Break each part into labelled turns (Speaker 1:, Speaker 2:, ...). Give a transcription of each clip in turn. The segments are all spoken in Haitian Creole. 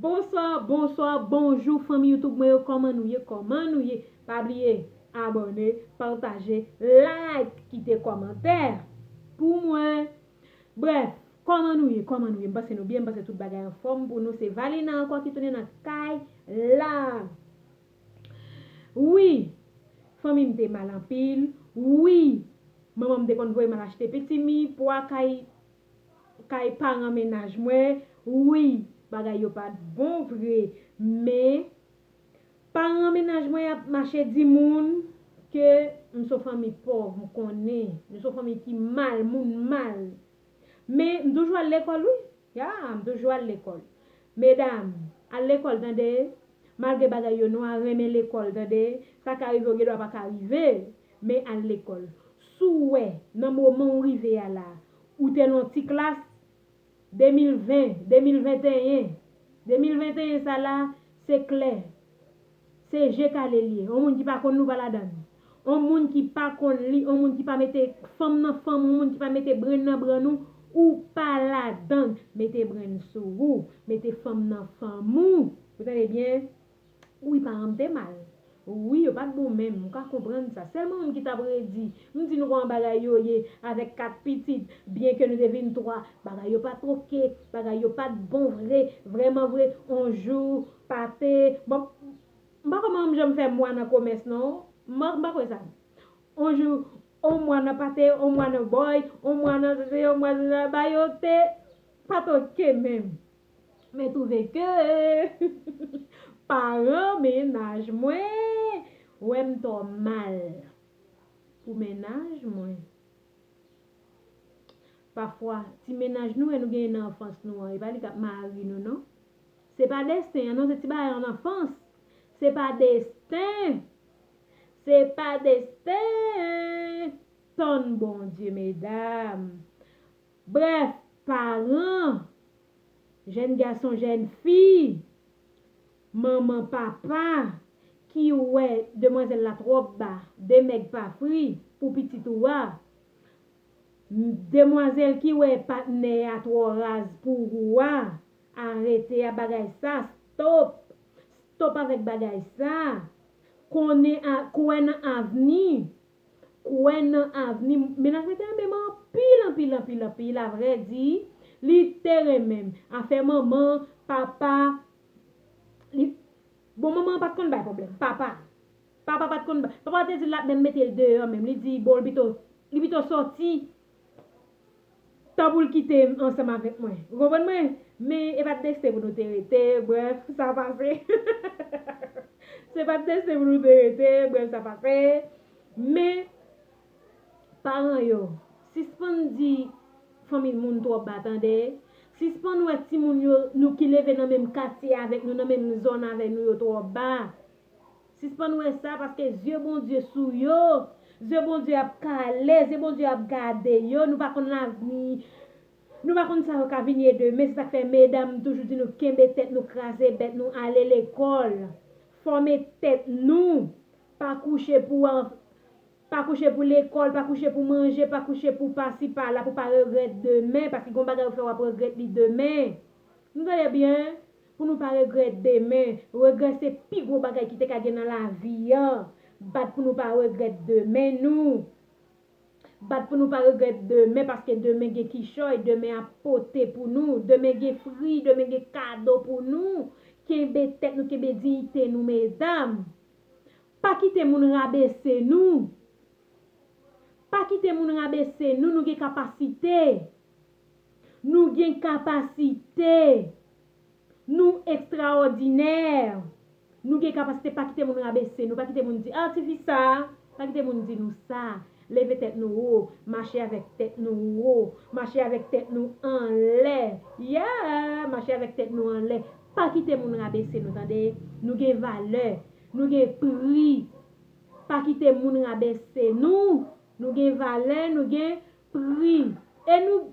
Speaker 1: Bonswa bonswa bonjou fanmi youtube mwen yo kòman nou ye kòman nou ye pa bliye abòne pataje like kite kòmantè pou mwen brèf kòman nou ye kòman nou ye m panse nou byen m panse tout bagay anfòm pou nou se valina ankò ki tounen nan kay la wi fanmi m te mal anpil wi manman m te konn voye m al achte pitimi pwa kay kay paran mennaj mwen wi bagay yo pat bon vre men paran mennaj mwen ap mache di moun ke m son fanmi pòv m konnen nou son fanmi ki mal moun mal men m toujou al lekòl wi ya m toujou al lekòl medam al lekòl tande malgre bagay yo nwa renmen lekòl tande sa ka rive yo gen dwa pa ka rive Men al lekòl. Si w wè, nan moman w rive a la, ou te nan ti klas, 2020, 2021, 2021 sa la, se klè, se je kale l ye. On moun ki pa konn li w pa ladan l. On moun ki pa konn li, on moun ki pa mete fanm nan fanm, on moun ki pa mete brenn nan brenn ou, ou pa ladan l. Mete brenn sou ou, mete fanm nan fanm ou. Ou tande byen? Wi paranm te mal wi yo pat bon menm ou ka konprann sa selman moun ki tap redi m di nou koman bagay yo ye avek 4 pitit byen ke nou te vin 3 bagay yo pat ok bagay yo pat bon vre vreman vre on jou pate bon m pa koman m janm fè mwa nan komès non m pa kwè sa on jou on mwa nan pate on mwa nan boy on mwa nan sesi on mwa nan sesi ba yo te pat ok menm. Mwen twouve ke paran mennaj mwen wè m twò mal pou mennaj mwen. Pafwa, ti mennaj nou wè nou genyen nan anfans nou an, e pa li k ap mari nou non. Se pa desten an non, se ti bagay an anfans. Se pa desten! Se pa desten! Tann Bondye medam! Brèf, paran, jèn gason, jèn fi, manman, papa, ki wè demwazèl la twòp ba, demèg pa fri, pou pitit ou a, demwazèl ki wè patnè a twò raz pou ou a, arete a bagay sa, stop, stop avèk bagay sa, konnen a, kwè nan avni, kwè nan avni m Mennaj mwen te renmen m anpil anpil anpil anpil Avrèdi li te renmen m Afè manman, papa li Bon manman an pa t konn bay pwoblèm Papa Papa pa t konn bay Papa te di l l ap menm mete l deyò menm Li di bon li pito li pito soti Tan pou l kite m ansanm avèk mwen. Ou konprann mwen? Men, e pa t desten pou nou te rete, brèf, sa pase. Se pa t desten pou nou te rete, brèf, sa pase. Men, paran yo, sispann di fanmi moun twò ba tande. Sispann wè timoun yo, nou ki leve nan menm katye avèk nou, nan menm zòn avè nou yo twò ba. Sispann wè sa paske zye Bondye sou yo, zye Bondye ap kale, zye Bondye ap gade yo, nou pa konn lavni, nou pa konn sa yo ka vin ye demen, se sak fè medam m toujou di nou kenbe tèt nou, kraze bèt nou, ale lekòl, fòme tèt nou, pa kouche pou an, pa kouche pou lekòl, pa kouche pou manje, pa kouche pou pasi pala pou pa regrèt demen, paske gon bagay ou fè wap regrèt li demen, nou tande byen, Pou nou pa regrèt demen. Regrè se pi gwo bagay ki te ka gen nan lavi an. Bat pou nou pa regrèt demen nou. Bat pou nou pa regrèt demen paske demen gen kichòy, demen ap pote pou nou, demen gen fri, demen gen kado pou nou. Kenbe tèt nou, kenbe diyite nou medam. Pa kite moun rabese nou. Pa kite moun rabese nou, nou gen kapasite. Nou gen kapasite. Nou ekstraòdinè! Nou gen kapasite pa kite moun rabese nou, pa kite moun di, ah ti fi sa, pa kite moun di nou sa, leve tèt nou wo, mache avèk tèt nou wo, mache avèk tèt nou anlè, yeah! Mache avèk tèt nou anlè, pa kite moun rabese nou tande, nou gen valè, nou gen pri, pa kite moun rabese nou, nou gen valè, nou gen pri, e nou.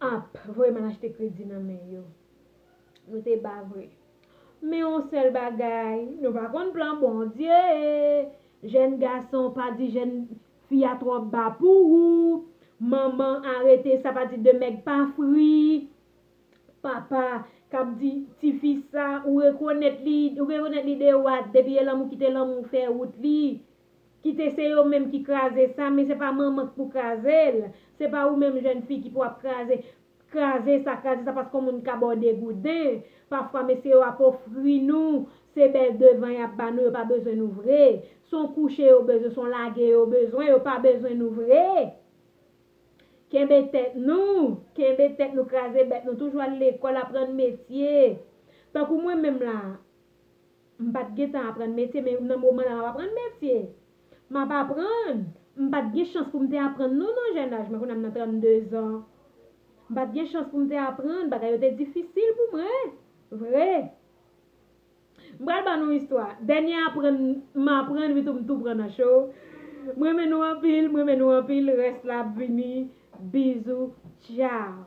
Speaker 1: Ap voye moun achte kredi nan men yo. Nou te ba vre. Men yon sèl bagay, nou pa konn plan Bondye. Jèn gason pa di jèn fi a twò ba pou ou. Manman arete sa pa di de mèg pa fri. Papa kap di ti fi sa ou rekonèt li, ou rekonèt li de wat depi e lanmou kite lanmou fè wout li. Kite se yo menm ki kraze sa men se pa manman k pou kraze l, se pa ou menm jèn fi ki pou ap kraze kraze sa kraze sa paske yon moun ka ba w degouden, pafwa mesye yo ap ofri nou se bèl devan y ap ba nou yo pa bezwen nou vre, s on kouche yo bezwen, s on lage yo bezwen yo pa bezwen nou vre. Kenbe tèt nou, kenbe tèt nou kraze bèt nou toujou al lekòl aprann metye tankou mwen menm la M pa t gentan aprann metye, men nan moman la m ap aprann metye. M ap aprann. M pa t gen chans pou m te aprann non nan jèn aj mwen, kounye a m nan 32 zan. M pa t gen chans pou m te aprann, bagay yo te difisil pou mwen vre. M pral ban nou istwa, dènye aprann m aprann wi tou m tou pran nan cho. M renmen nou anpil, m renmen nou anpil, rès la ap vini, bizou, tchao.